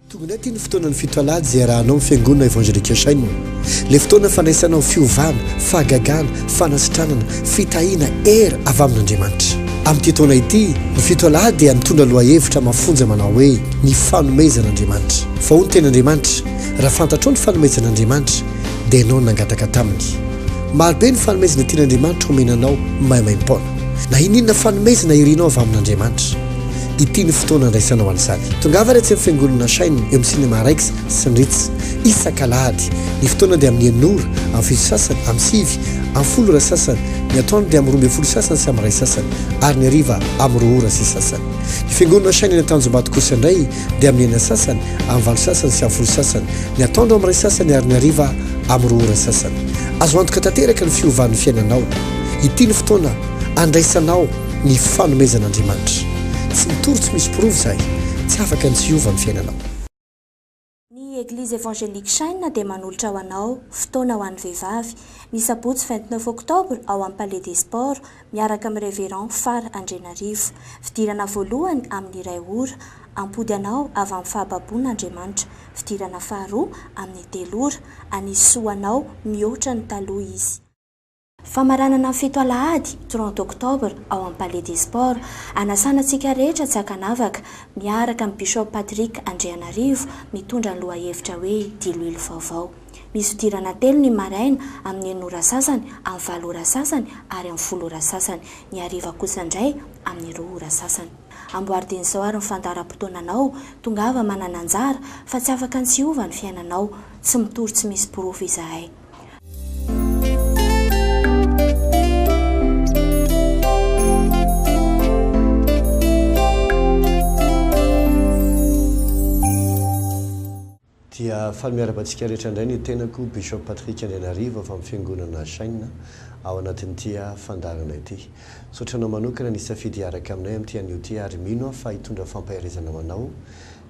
Tonga indray ity ny fotoanan'ny fito alahady izay iarahanao amin'ny Fiangonana Evangelique Shine. Ilay fotoana fandraisana ho fiovana, fahagagana, fanasitranana, fitahiana, hery avy amin'Andriamanitra. Amin'ity taona ity, ny fito alahady dia mitondra lohahevitra mafonja manao hoe, Ny fanomezan'Andriamanitra. Fa hoy ny Tenin'Andriamanitra, Raha fantatrao ny fanomezan'Andriamanitra, dia ianao no nangataka taminy. Marobe ny fanomezana tian'Andriamanitra homena anao maimaim-poana. Na inon'inona fanomezana irinao avy amin'Andriamanitra. Ity no fotoana andraisanao an'izany. Tongava ary atsy amin'ny Fiangonana Shine eo amin'ny Cinema Rex sy ny Ritz, isak'alahady. Ny fotoana dia amin'ny enina ora, amin'ny fito sasany, amin'ny sivy, amin'ny folo ora sasany, ny atoandro dia amin'ny roa ambin'ny folo sasany sy amin'ny iray sasany, ary ny hariva amin'ny roa ora sy sasany. Ny Fiangonana Shine any Antanjombato kosa indray dia amin'ny enina sasany, amin'ny valo sasany sy amin'ny folo sasany, ny atoandro amin'ny iray sasany ary ny hariva amin'ny roa ora sasany. Azo antoka tanteraka ny fiovan'ny fiainanao. Ity ny fotoana. Andraisanao ny fanomezan'Andriamanitra. Tsy mitory tsy misy porofo izay. Tsy afaka ny tsy hiova ny fiainanao. Ny Eglise Evangelique Shine dia manolotra ho anao, Fotoana ho an'ny Vehivavy, ny sabotsy vingt neuf octobre ao amin'ny Palais des Sports, miaraka amin'ny Révérend Far Andrianarivo. Fidirana voalohany amin'ny iray ora. Hampody anao avy amin'ny fahababoana Andriamanitra. Fidirana faharoa amin'ny telo ora. Hanisy soa anao mihoatra ny taloha Izy. Famaranana fito alahady, 30 octobre, ao amin'ny Palais des Sports. Anasana antsika rehetra tsy ankanavaka, miaraka amin'i Bishop Patrick Andrianarivo, mitondra ny lohahevitra hoe Diloilo vaovao. Misy fidirana telo ny maraina, amin'ny enina ora sasany, amin'ny valo ora sasany ary amin'ny folo ora sasany. Ny hariva kosa indray, amin'ny roa ora sasany. Amboardiana izao ary ny fandaharam-potoananao, tongava manana anjara, fa tsy afaka ny tsy hiova ny fiainanao. Tsy mitory tsy misy porofo izahay. Dia faly miarahaba antsika rehetra indray ny tenako, Bishop Patrick Andrianarivo avy amin'ny Fiangonana Shine ao anatin'ity fandaharana ity. Misaotra anao manokana nisafidy hiaraka aminay amin'ity anio ity ary mino aho fa hitondra fampaherezana ho anao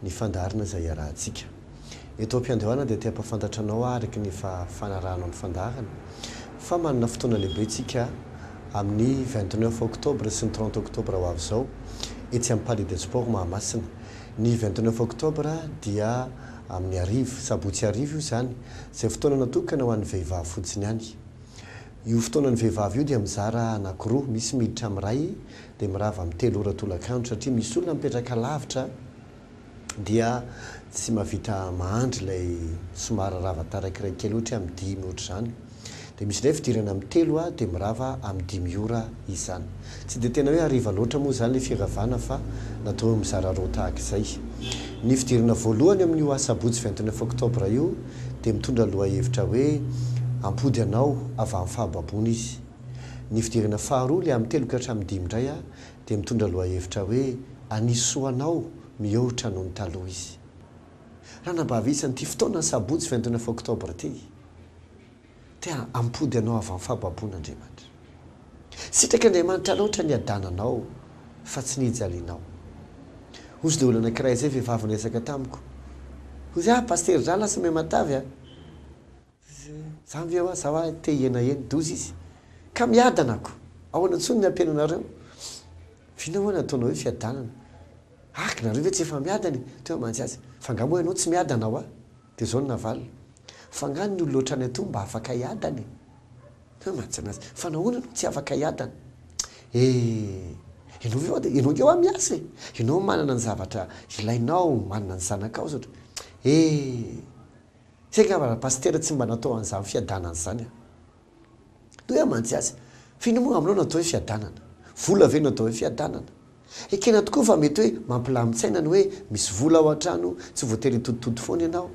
ny fandaharana izay hiarahantsika. Eto am-piandohana dia te-hampahafantatra anao aho araka ny efa fanarahanao ny fandaharana fa manana fotoana lehibe isika amin'ny vingt neuf octobre sy ny trente octobre ho avy izao etsy amin'ny Palais des Sports Mahamasina. Ny vingt neuf octobre dia amin'ny hariva, sabotsy hariva io izany, izay fotoana natokana ho an'ny vehivavy fotsiny ihany. Io fotoanan'ny vehivavy io dia mizara anankiroa, misy miditra amin'ny iray dia mirava amin'ny telo ora tolakandro satria misy olona mipetraka lavitra, dia tsy mahavita mahandry ilay somary rava taraiky iray kely ohatra hoe amin'ny dimy ohatra izany. Dia misy indray fidirana amin'ny telo aho dia mirava amin'ny dimy ora izany. Tsy dia tena hoe hariva loatra moa izany ilay firavana fa natao hoe mizara roa tahaka izay. Ny fidirana voalohany amin'io asabotsy vingt neuf octobre io dia mitondra lohahevitra hoe hampody anao avy amin'ny fahababoana izy. Ny fidirana faharoa, ilay amin'ny telo ka hatramin'ny dimy indray, dia mitondra lohahevitra hoe anisy soa anao mihoatra noho ny taloha izy. Ranabavy isa an'ity fotoana ny sabotsy vingt neuf octobre ity, te hampody anao avy amin'ny fahababoana Andriamanitra. Sitraky Andriamanitra loatra ny hiadananao fa tsy ny hijalianao. Hozy dia olona anankiray izay vehivavy niresaka tamiko, hoy izy, ah Pasitera izaho lasa miha matavy an! Za nge hoa za hoa te hiena eny doza izy ka miadana ako ahoana intsony ny ampiana anareo vina hoa ny ataonao hoe fiadanana aky nareo ve tsy efa miadana e teo hoa mantsy azy fa nga moa ianao tsy miadana hoa de zao no navaliny fa nga ny olona otrany atoa mba afaka hiadana e teo hoa mantsy azy fa nahoana no tsy afaka hiadana eh ianao ve hoa de ianao nge hoa miasa e ianao manana ny zavatra ilainao manana ny zanakao zao eh. Tsy haiko angamba raha pasitera tsy mba natao an'izany fiadanana izany an! Dia hoe aho mantsy azy, f'inona moa aminao no atao hoe fiadanana? Vola ve no atao hoe fiadanana? Ekena tokoa fa mety hoe mampilamin-tsaina ny hoe misy vola ao an-trano, tsy voatery hitoditody foana ianao.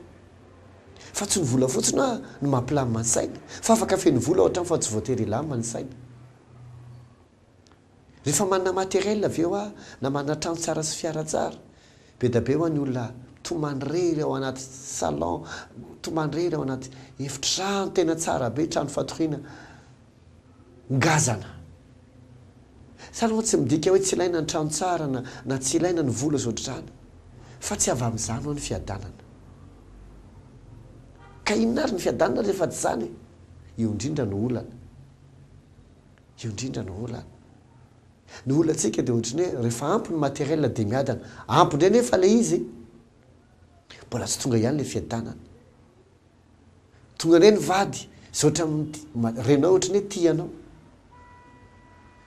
Fa tsy ny vola fotsiny hoa no mampilamina ny saina, fa afaka feno vola ao an-trano fa tsy voatery hilamina ny saina. Rehefa manana matériel avy eo aho na manana trano tsara sy fiara tsara, bedabe ho'a ny olona tomany rery ao anaty salon, tomany rery ao anaty efitrano tena tsara be, trano fatoriana ngazana. Zany ho'a tsy midika hoe tsy ilaina ny trano tsara na na tsy ilaina ny vola sy ohatr'izany fa tsy avy amin'izany ho'a ny fiadanana. Ka inona ary ny fiadanana rehefa tsy izany e? Io indrindra no olana. Io indrindra no olana. Ny olantsika dia ohatry ny hoe rehefa ampy ny matériel dia miadana. Ampy indray nefa ilay izy, mbola tsy tonga ihany ilay fiadanana. Tonga indray ny vady izay ohatran'ny renao ohatry ny hoe tia anao.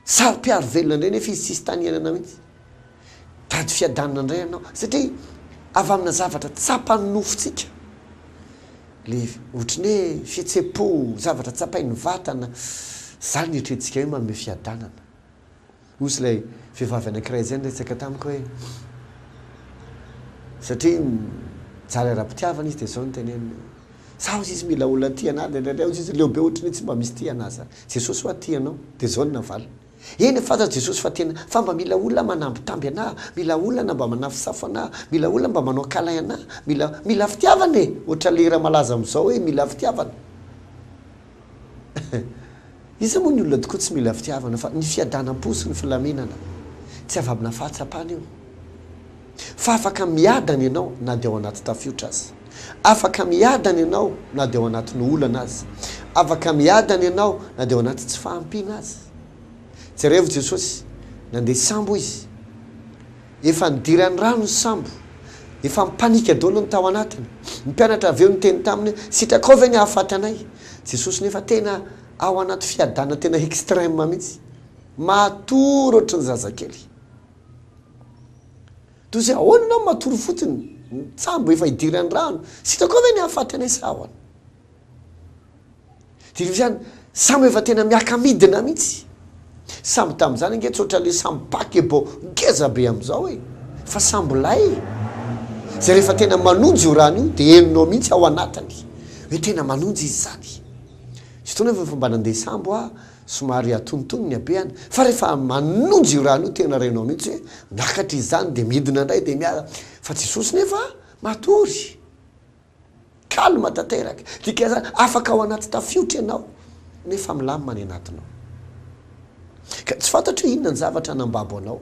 Saro-piaro velona indray nefa izy tsisy tany hiainana mihitsy. Tady fiadanana indray ianao satria avy amina zavatra tsapan'ny nofontsika, le ohatry ny hoe fihetsem-po, zavatra tsapain'ny vatana, zany eritreretintsika hoe manome fiadanana. Hozy ilay vehivavy anankiray izay niresaka tamiko hoe, satria mijaly ara-pitiavana izy dia zao no teneniny hoe, sa hozy izy mila olona tia anah, dia indraindray hozy izy leo be ohatry ny hoe tsy mba misy tia anah zany, Jesosy hoa tia anao, dia zao no navaliny. Eny fa aza Jesosy fa tena Fa mba mila olona manambitamby anah Mila olona mba manafosafo anah Mila olona mba manao câlin anah Mila Mila fitiavana e Ohatra le hira malaza amzao hoe mila fitiavana Iza moa ny olona tokoa tsy mila fitiavana fa ny fiadanam-po sy ny filaminana Tsy avabina fahatsapana io. fa afaka miadana ianao na dia ao anaty tafiotra aza. Afaka miadana ianao na dia ao anatin'ny olana aza. Afaka miadana ianao na dia ao anaty tsy fahampiana aza. Jerevo Jesosy, nandeha sambo Izy. Efa nidiran'ny rano ny sambo. Efa mi-panika daholo ny tao anatiny. Ny mpianatra avy eo niteny Taminy hoe, sitrakao ve ny hahafaty anay? Jesosy nefa tena ao anaty fiadanana tena extreme mihitsy. Matory ohatry ny zazakely. Dozy ahoana ianao matory fotsiny ny tsambo efa idiran'ny rano, tsy hitako ao ve ny hahafaty anay sa ahoana? Dia ireo ihany sambo efa tena miaka-midina mihitsy. Sambo tamin'izany ange tsy ohatran'ilay sambo paquebot ngeza be amin'izao e! Fa sambo lay izay rehefa tena manonja io rano io dia henonao mihitsy ao anatiny hoe tena manonja izy izany. Misy fotoana anefa efa mba nandeha sambo aho. Somary atonotony ny habehany fa rehefa manonja io rano io tena renao mihitsy hoe miakatra izy izany dia midina indray dia miala fa Jesosy nefa matory calme tanteraka dikan'izany afaka ao anaty tafiotra ianao nefa milamina ny anatinao ka tsy fantatro hoe inona ny zavatra nambabo anao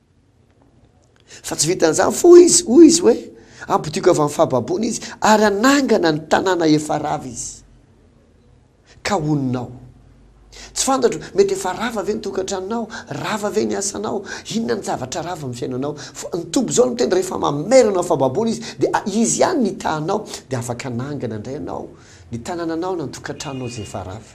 Fa tsy vitan'izany fo izy, hoy izy hoe, Hampodiako avy amin'ny fahababoana izy, ary hanangana ny tanàna efa rava izy, ka honinao. Tsy fantatro, mety efa rava ve ny tokantranonao? Rava ve ny asanao? Inona ny zavatra rava amin'ny fiainanao? Fa ny Tompo izao no miteny, rehefa mamerina amin'ny fahababoana izy, dia izy ihany no hitahanao, dia afaka hanangana indray ianao ny tanànanao na ny tokantranonao izay efa rava.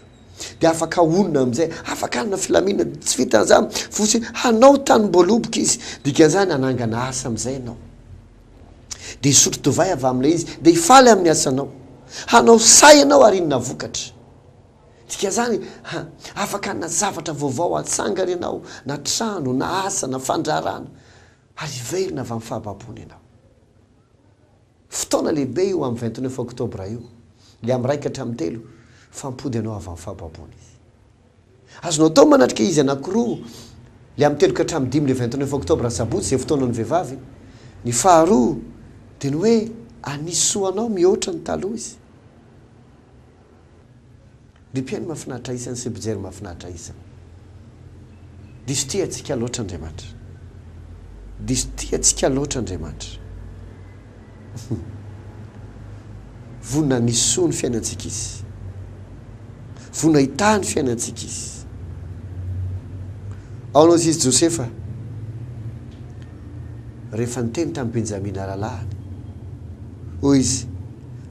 dia afaka honina amin'izay, afaka hanana filaminana. Tsy vitan'izany, fosy hanao tanimboaloboka izy. Dikan'izany, hanangana asa amin'izay ianao. Dia hisotro divay avy amin'ilay izy, dia hifaly amin'ny asanao. Hanao sahy ianao ary inona vokatra. Dikan'izany, afaka hanana zavatra vaovao hatsangana ianao, na trano, na asa, na fandraharahana, ary hiverina avy amin'ny fahababoana ianao. Fotoana lehibe io amin'ny vingt neuf octobre io, le amin'ny iraika hatramin'ny telo, fa mipody ianao avy amin'ny fahababoana izy. Azonao atao manatrika izy anankiroa, le amin'ny telo ka hatramin'ny dimy le vingt neuf octobre sabotsy izay fotoanan'ny vehivavy, ny faharoa dia ny hoe hanisy soa anao mihoatra ny taloha izy. Ry mpihaino mahafinaritra isany sy mpijery mahafinaritra isany. Diso tia antsika loatra Andriamanitra. Diso tia antsika loatra Andriamanitra. Vonona hanesoa ny fiainantsika Izy. Vonona hitahy ny fiainantsika Izy. Aona hoy izy Josefa, rehefa niteny tamin'i Benjamina rahalahiny, hoy izy,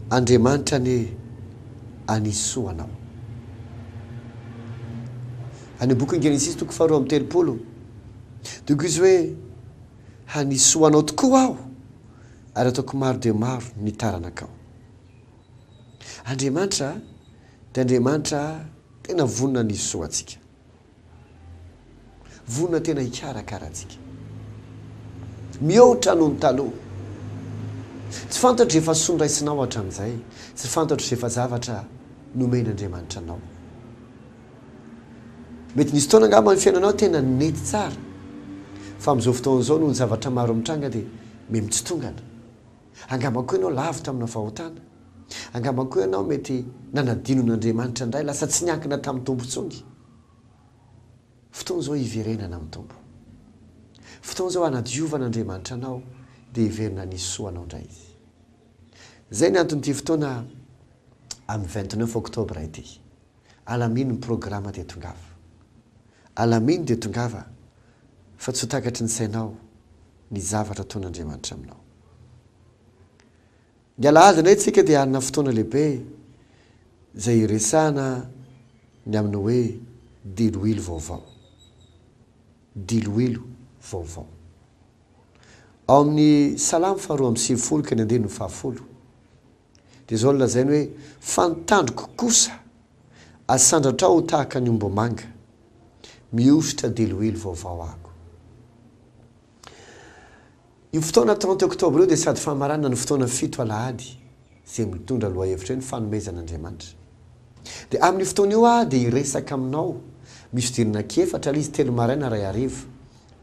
Andriamanitra anie hanisoa anao. Any amin'ny bokin'i Genesisy toko faharoa amby telopolo dia koa izy hoe hanisoa anao tokoa aho ary ataoko maro dia maro ny taranakao. Andriamanitra dia Andriamanitra tena vonona hanisoa antsika. Vonona tena hikarakara antsika. Mihoatra noho ny taloha. Tsy fantatro izay fahasoa noraisinao hatramin'izay, tsy fantatro izay efa zavatra nomen'Andriamanitra anao. Mety nisy fotoana angamba ny fiainanao tena nety tsara, fa amin'izao fotoana izao noho ny zavatra maro mitranga dia mihamitsitongan. Angamba koa ianao lavitra amina fahotana. Angamba koa ianao mety nanadino an'Andriamanitra indray, lasa tsy niankina tamin'ny Tompo intsony. Fotoana izao hiverenana amin'ny Tompo. Fotoana izao hanadiovana Andriamanitra anao, dia hiverina hanisy soa anao indray Izy. Izay ny anton'ity fotoana amin'ny vingt neuf octobre ity. Alamino ny programa dia tongava. Alamino dia tongava fa tsy ho takatry ny sainao ny zavatra ataon'Andriamanitra aminao. Ny Alahady indray tsika dia hanana fotoana lehibe izay hiresahana ny amin'ny hoe diloilo vaovao. Diloilo vaovao. Ao amin'ny Salamo faharoa amby sivifolo ka ny andininy fahafolo Dia izao no lazainy hoe, Fa ny tandroko kosa asandratrao ho tahaka ny ombimanga, mihosotra deloilo vaovao ako. Io fotoana trente octobre io dia sady famaranana ny fotoana fito alahady izay mitondra lohahevitra hoe ny fanomezan'Andriamanitra. Dia amin'io fotoana io aho dia hiresaka aminao, misy hodinana ankiefatra, ilay izy telo maraina, iray hariva.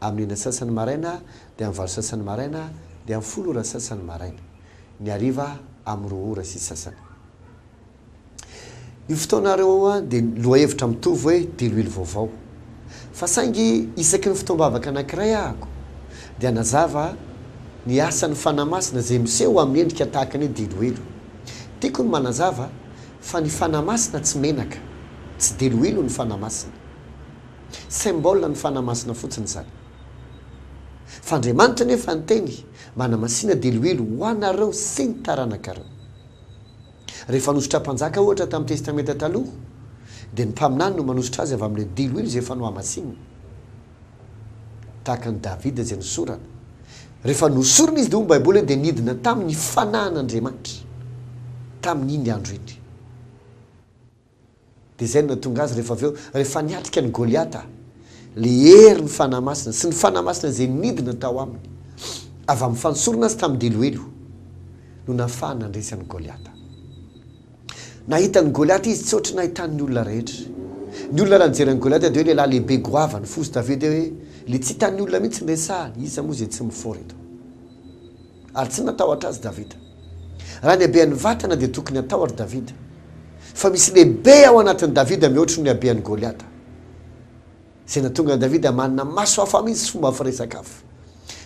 Amin'ny enina sasany maraina, dia amin'ny valo sasany maraina, dia amin'ny folo ora sasany maraina. Ny hariva amin'ny roa ora sy sasany. Io fotoana ireo dia lohahevitra mitovy hoe diloilo vaovao. Fa saingy isaky ny fotoam-bavaka anankiray ahako dia hanazava ny asan'ny Fanahy Masina izay miseho amin'ny endrika tahaka ny hoe diloilo. Tiako ny manazava fa ny Fanahy Masina tsy menaka. Tsy diloilo ny Fanahy Masina. Symbole ny Fanahy Masina fotsiny izany. Fa Andriamanitra nefa niteny mba hanamasina diloilo ho anareo sy ny taranakareo. Rehefa nosotra mpanjaka ohatra tamin'ny Testamenta Taloha, dia ny mpaminany no manosotra azy avy amin'ilay diloilo izay efa nohamasinina. Tahaka an'i Davida izay nosorana. Rehefa nosorina izy dia hoy ny Baiboly hoe dia nidina taminy ny Fanahin'Andriamanitra tamin'iny andro iny. Dia izay no nahatonga azy rehefa avy eo, rehefa niatrika an'i Goliata, ilay herin'ny Fanahy Masina sy ny Fanahy Masina izay nidina tao aminy avy amin'ny fanosorana azy tamin'ny deloelo no nahafahany nandresy an'i Goliata. Nahita an'i Goliata izy tsy ohatry ny nahitan'ny olona rehetra. Ny olona raha nijery an'i Goliata dia hoe lehilahy lehibe goavana, fosy Davida hoe ilay tsy hitan'ny olona mihitsy ny resahany, iza moa izay tsy mifoha ry ireto. Ary tsy natahotra azy Davida. Raha ny habean'ny vatana dia tokony hatahotra Davida. Fa misy lehibe ao anatin'i Davida mihoatry ny habean'i Goliata. Izay nahatonga an'i Davida manana maso hafa mihitsy sy fomba firesaka hafa.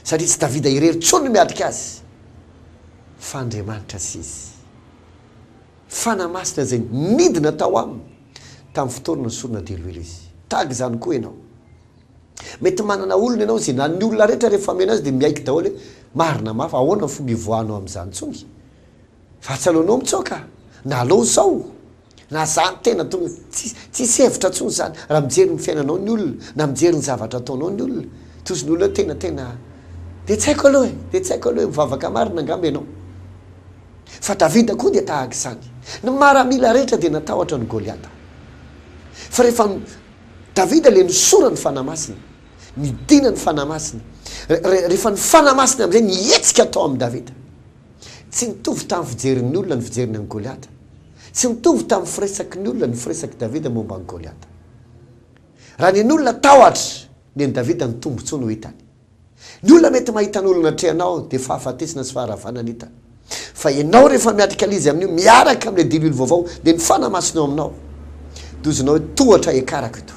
Satria tsy Davida irery intsony no miatrika azy, fa Andriamanitra sy izy. Fanahy Masina izay nidina tao aminy tamin'ny fotoana nesorina diloilo izy. Tahaka izany koa ianao. Mety manana olona ianao izay na ny olona rehetra rehefa mihaino azy dia miaiky daholo hoe marina mafy, ahoana ny fomba hivoahanao amin'izany tsony? Fa tsy aleonao mitsoaka? Na aleo zao? Na za ny tena tonga, tsisy, tsisy hevitra tsony zany raha mijery ny fiainanao ny olona na mijery ny zavatra ataonao ny olona. Tojo ny olona hoe tena, tena, dia tsy haiko aloha e, dia tsy haiko aloha e, mivavaka marina angamba ianao. Fa Davida koa dia tahaka izany. Ny maramila rehetra dia natahotra an'i Goliata. Fa rehefa Davida le nisorany Fanahy Masina, nidina ny Fanahy Masina, rehefa ny Fanahy Masina amin'izay nihetsika tao amin'i Davida. Tsy nitovy tamin'ny fijerin'ny olona ny fijeriny an'i Goliata. Tsy nitovy tamin'ny firesaky ny olona ny firesak'i Davida momba an'i Goliata. Raha nen'olona tahotra ny an'i Davida ny tombontsoa no hitany. Ny olona mety mahita ny olona atrehanao dia fahafatesana sy faharavana ny hitany. Fa ianao rehefa miatrika lzy amin'io miaraka amin'ilay dibily vaovao dia ny fanamasina eo aminao. Dozonao hoe tohatra ekarako eto.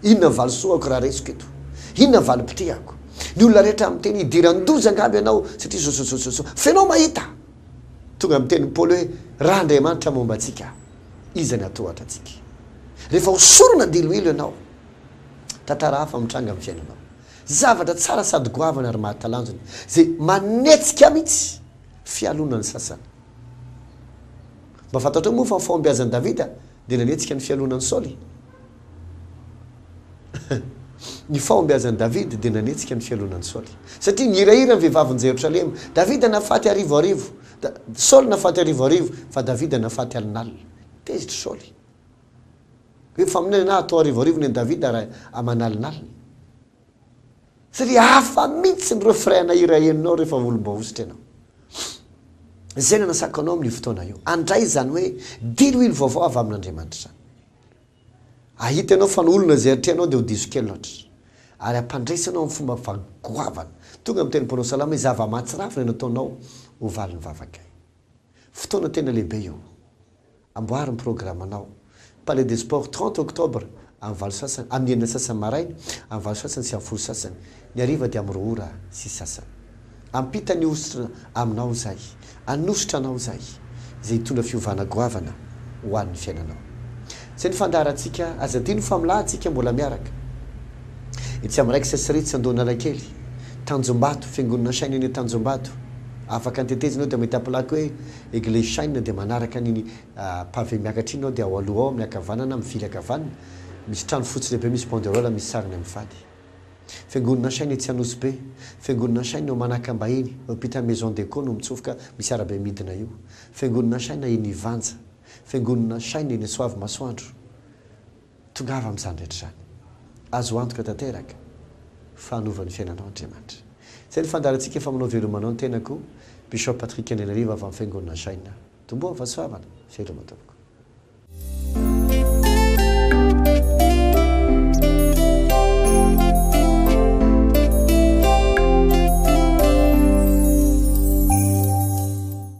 Inona ny valisoako raha raisiko eto? Inona valim-pitihako? Ny olona rehetra miteny hidiran-doza angamba ianao satria sososososo fa ianao mahita. Tonga ny tenin'i Paoly hoe raha Andriamanitra momba antsika iza ny hatohatra antsika? Rehefa hosorana diloilo ianao, tantara hafa mitranga amin'ny fiainanao. Zavatra tsara sady goavana ary mahatalanjona izay manetsika mihitsy fialonana ny sasany. Mba fantatrao moa fa ny fahombiazan'i Davida dia nanetsika ny fialonan'i Saoly? Ny fahombiazan'i Davida dia nanetsika ny fialonan'i Saoly. Satria nihirahira ny vehivavin'i Jerosalema. Davida nahafaty arivoarivo, Saoly nahafaty arivoarivo, fa Davida nahafaty alinalina. Tezitr'i Saoly. Hoe faminaniana ahy atao arivoarivo nen'i Davida raha amanalinaliny. Tsy ry hafa mihitsy ny refrain-na hira henonao rehefa volombahosotra ianao. Izay no anasako anao amin'io fotoana io. Andray izany hoe diloilo vaovao avy amin'Andriamanitra izany. Ahita ianao fa ny olona izay atrehanao dia ho diso kely loatra. Ary ampandraisy anao amin'ny fomba fa goavana. Tonga miteny ny mpanao salamo hoe zava-mahatsiravina no ataonao ho valin'ny vavakay. Fotoana tena lehibe io. Amboary ny programanao. Palais des Sports trente octobre amin'ny valo sasany, amin'ny enina sasany maraina, amin'ny valo sasany sy amin'ny folo sasany. Ny hariva dia amin'ny roa ora sy sasany. Hampita ny hosotra aminao izay, hanosotra anao izay, izay hitondra fiovana goavana ho an'ny fiainanao. Izay ny fandaharantsika, aza adino fa milahatsika mbola miaraka. Etsy amin'ny Rex sy Ritz Andohanalakely, Tanjombato, Fiangonana Shine eny Tanjombato. Afaka ny tetezinao dia mahita plaque hoe. Eglise Shine dia manaraka an'iny pavé miakatra iny ao dia ao aloha ao amin'ny ankavanana mivily ankavanana misy trano fotsy lehibe misy banderole misy sarina mivady. Fiangonana Shine etsy Anosy Be. Fiangonana Shine eo Manakambahiny eo ampitan'ny Maison de Co no mitsofoka misy arabe midina io. Fiangonana Shine eny Ivanja. Fiangonana Shine eny Soavimasoandro. Tongava amin'izany rehetra izany. Azo antoka tanteraka fa hanova ny fiainanao Andriamanitra. Izay ny fandaharantsika efa manao veloma anao ny tenako Bishop Patrick Andrianarivo avy amin'ny Fiangonana Jaina Domboa Vasoavana. Veloma tompoko.